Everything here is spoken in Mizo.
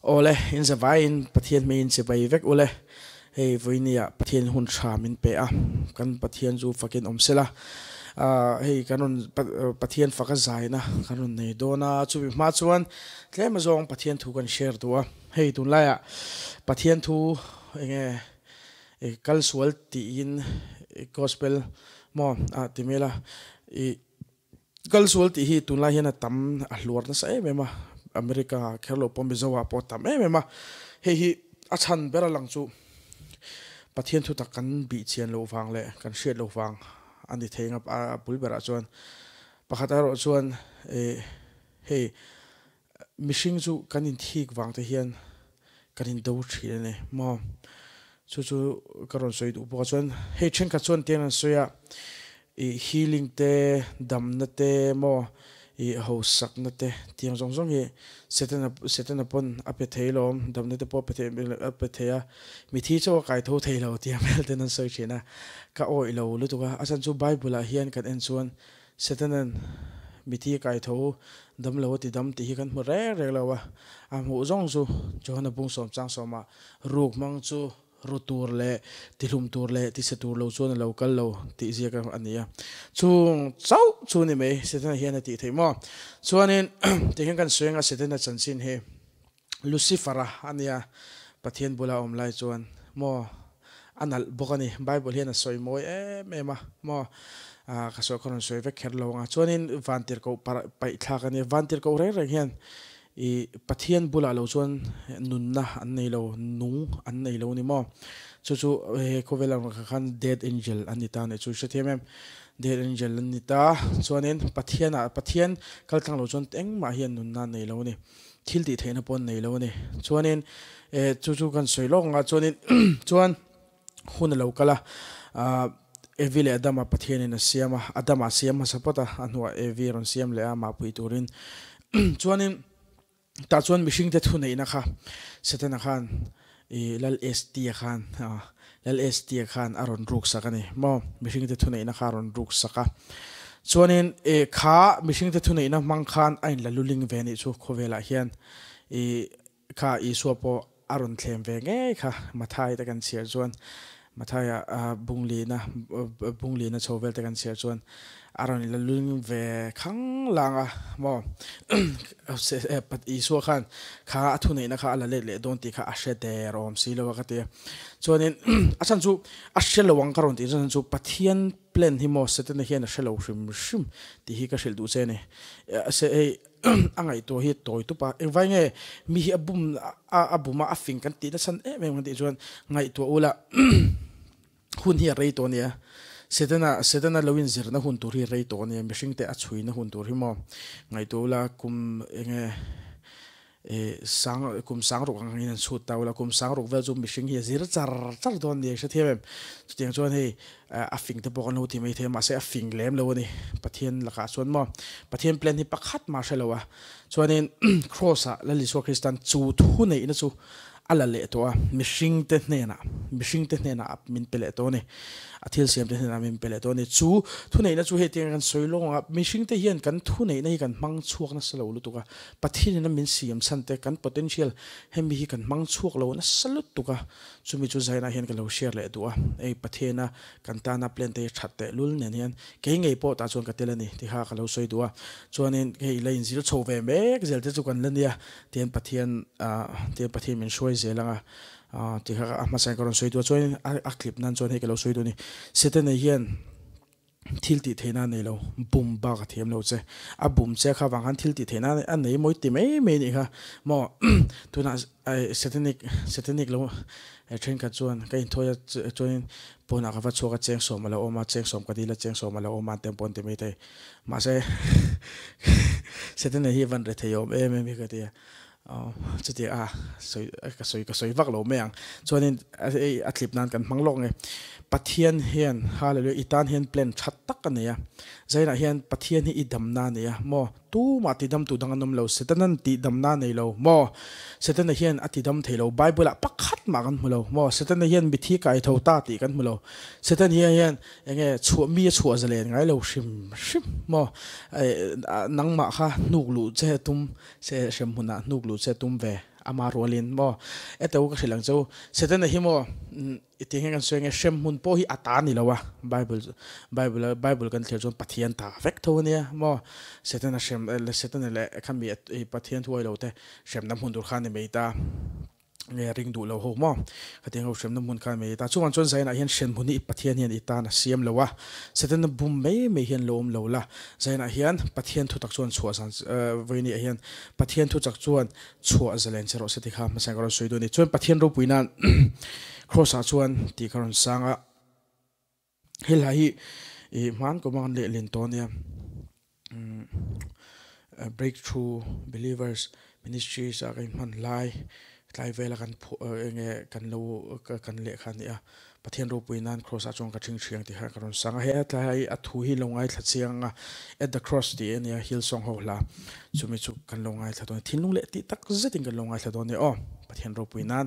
Awle, in za vaiin Pathian hming in sibai vek u le, hei vawiini ah Pathian in hun hra min pe a, kan Pathian chu fak in awm sela, hei kan rawn Pathian fak a zai na kan rawn nei dawn a, chumi hma chuan tlema zawng Pathian thu kan share duh a, hei tun lai ah Pathian thu enge i kal sual tiin i gospel maw? a ti mel a, i. Kal sual tih hi tunlai hian a tam a hluar nasa em em a, America kher lo pawh Mizo ah pawh a tam em em a, hei hi a chhan ber a lang chu Pathian thutak kan bih chian loh vang leh kan hriat loh vang a ni thei ngap a, a bul berah chuan pakhat erawh chuan eh hei Mihring chu kan inthik vang te hian kan in do thin a ni maw? Chu chu ka rawn sawi duh bawk a, chuan hei thenkhat chuan tiang an sawi a, ih healing te, damna te maw, ih hausakna te tiang zawng zawng hi Satan a Satan a pawn a pe thei lo, damna te pawh a pe thei em a pe thei a, mitthi chu a kai tho thei lo tih ang vel ten an sawi thin a, ka awih lo lutuk a, a chhan chu Bible-ah hian kan en chuan, Satanan mithi a kai tho u, damlo a ti dam tih hi kan hmu rek rek lo a, a hmuh zawng chu Johana bung sawm chang sawmah ruk hmang chu ru tur leh tihlum tur leh tisa tur lo chuan a lo kal lo tih ziaka a ni a, chung chauh chu ni mai Satana hian a tih theih maw? Chuanin tihian kan sawi anga Satana chanchin hi Lucifer-a a nia, Pathian bula awm lai chuan maw a nalh bawk a ni. Bible hian a sawi mawi em em a maw ka sawi kha rawn sawi vek kher lo ang a. Chuanin vantir koh paih thlak a nia. Vantir koh reng reng hian i Pathian bulah lo chuan nunna an nei lo, nung an nei lo a ni maw. Chu chu he khawvel a rawn kal khan death angel an ni ta nih chu i hrethiam em. Death angel an ni ta chuanin Pathian ah Pathian kal tlang lo chuan engmah hian nunna an nei lo a ni. Thil tih theihna pawh nei lo a ni. Chuanin eh chu chu kan sawi lawk ang a, chuanin chuan hun a lo kal a, ah Evi leh Adama Pathianin a siam a, Adama siam hmasa pawt a, a hnuah Evi a rawn siam leh a mahpui turin. Chuanin tah chuan mihringte thuneihna kha Satana khan I Lal Estia khan ah Lal Estia khan a rawn ruksak a ni maw? Mihringte thuneihna kha a rawn ruksak a. Chuanin i kha mihringte thuneihna hmang khan a inla luling ve anih chu khawvelah hian i kha Isua pawh a rawn thlem ve ngei kha. Mathaite kan chhiar chuan Mathaia bung lihna bung lihna chho velte kan chhiar chuan a rawn ila lul ngim ve khang lang a maw Isua khan kha a thuneihna kha a la let leh dawn tih kha a hre der awm si lo a ka ti a. Chuanin a chhan chu a hre lo ang ka rawn tih chuan a chhan chu Pathian plan hi maw Setana hian a hre lo hrim hrim tih hi ka hrilh duh che a ni. a ngaihtuah hi tawi tup a, engvai nge mi hi a bum a bum a a fing kan tih nachhan em em kan tih chuan ngaihtuah ula hun hi a rei tawh a nia, Satan a Satan a lo inzirna hun tur hi a rei tawh a nia, mihring te a chhuina hun tur hi maw ngaihtuah ula kum enge sang kum sang ruk angin an chhut ta ula kum sang ruk vel chu mihring hi a zir char char dawn a nia ka hre thiam em, chutiang chuan hei A fing te pawh kan lo ti mai thei, mahse a fing lem lo a ni. Pathian lakah chuan maw, Pathian plan hi pakhat mah hre lo a, chuanin Kraws ah Lal Isua Kristan chu thu neihna chu a la leh tawh a, mihring te hnenah, mihring te hnenah a min pe leh tawh a ni, a thil siam te hnenah a min pe leh tawh a ni. Chu thu neihna chu hetiang a kan sawi lawng ang a, mihring te hian kan thu neihna hi kan hmang chhuak nasa lo lutuk a, Pathian in a min siam chhan te kan potential hemi hi kan hmang chhuak lo nasa lutuk a, Chumi chu Zaina hian ka lo share leh duh a, hei Pathena kan tana plan te hi that teh lul nen hian kei ngei pawh tah chuan ka tel a ni ti kha ka lo sawi duh a, chuanin hei la inzir chho ve mek zel te chu kan la nia tian Pathian ah tian Pathian min hruai zel anga ah ti kha a hmasa in ka rawn sawi duh a, chuanin a clip nan chuan hei ka lo sawi duh a ni, Sete nei hian. thil tih theihna a nei lo, bum bak a thiam lo che. A bum che kha vang khan thil tih theihna a nei mawi ti mai mai anih kha. Maw tunah satanic satanic lo thenkhat chuan ka inthawi a chuanin pawnah ka va chhuak a cheng sawm a lo awm a, cheng sawm ka dil a, cheng sawm a lo awm a an ti ang pawh an ti mai thei. Mahse, satanic hi van rethei awm em em hi ka ti a. Chuti a sawi ka sawi ka sawi vak lo mai ang chuanin a tlip nan kan hmang lawk nge Pathian hian hallelujah i tan hian plan that tak a nei a zainah hian Pathian hi i damna a nei a maw tumah ti dam tu dang an awm lo Satanan tih damna a nei lo maw Satana hian a ti dam thei lo Bible ah pakhat mah kan hmu lo maw Satana hian mithi kai tho ta tih kan hmu lo Satania hian enge chhuah mi a chhuah zalen ngai lo hrim hrim maw nangmah kha hnuk luh che a tum Se hrem hmunah hnuk luh che tum ve ama rual in maw e teh u ka hrilh ang che u. Setana hi maw i ti ang hian kan sawi nge hrem hmun pawh hi a ta ni lo a bible bible bible kan thlir chuan pathian ta vek tho a nia maw setana hrem setana leh kha mi pathian thuai lo te hremna hmun tur khan i mei ta. nge ring duh lo ho maw? Ka ti ang ho hremna hmun khan mai ita chungah chuan Zaina hian hren hmun hi Pathian hian i tan a siam lo a, Satan a bum mai mai hian lo awm lo la, Zaina hian Pathian thutak chuan chhuah zan Vawinia hian Pathian thutak chuan chhuah zalen che rawh se ti kha hmasa ka rawn sawi dawn a ni. Chuan Pathian ropuina Kraws ah chuan tih ka rawn sang a. Helai hi i hmaan kawma kan leh len tawh ania. Breakthrough Believers Ministries a kan hman lai tlai vela kan phuh eng nge kan lo kan leh kha ania. Pathian ropui nan Cross a chuan ka thing thiang tih kha ka rawn sang a. Hetlai a thu hi lo ngaithla chiang anga At the Cross tih ania Hillsong ho hla chumi chu kan lo ngaithla dawn ania. Thinlung leh tih tak zetin kan lo ngaithla dawn ania aw Pathian ropui nan.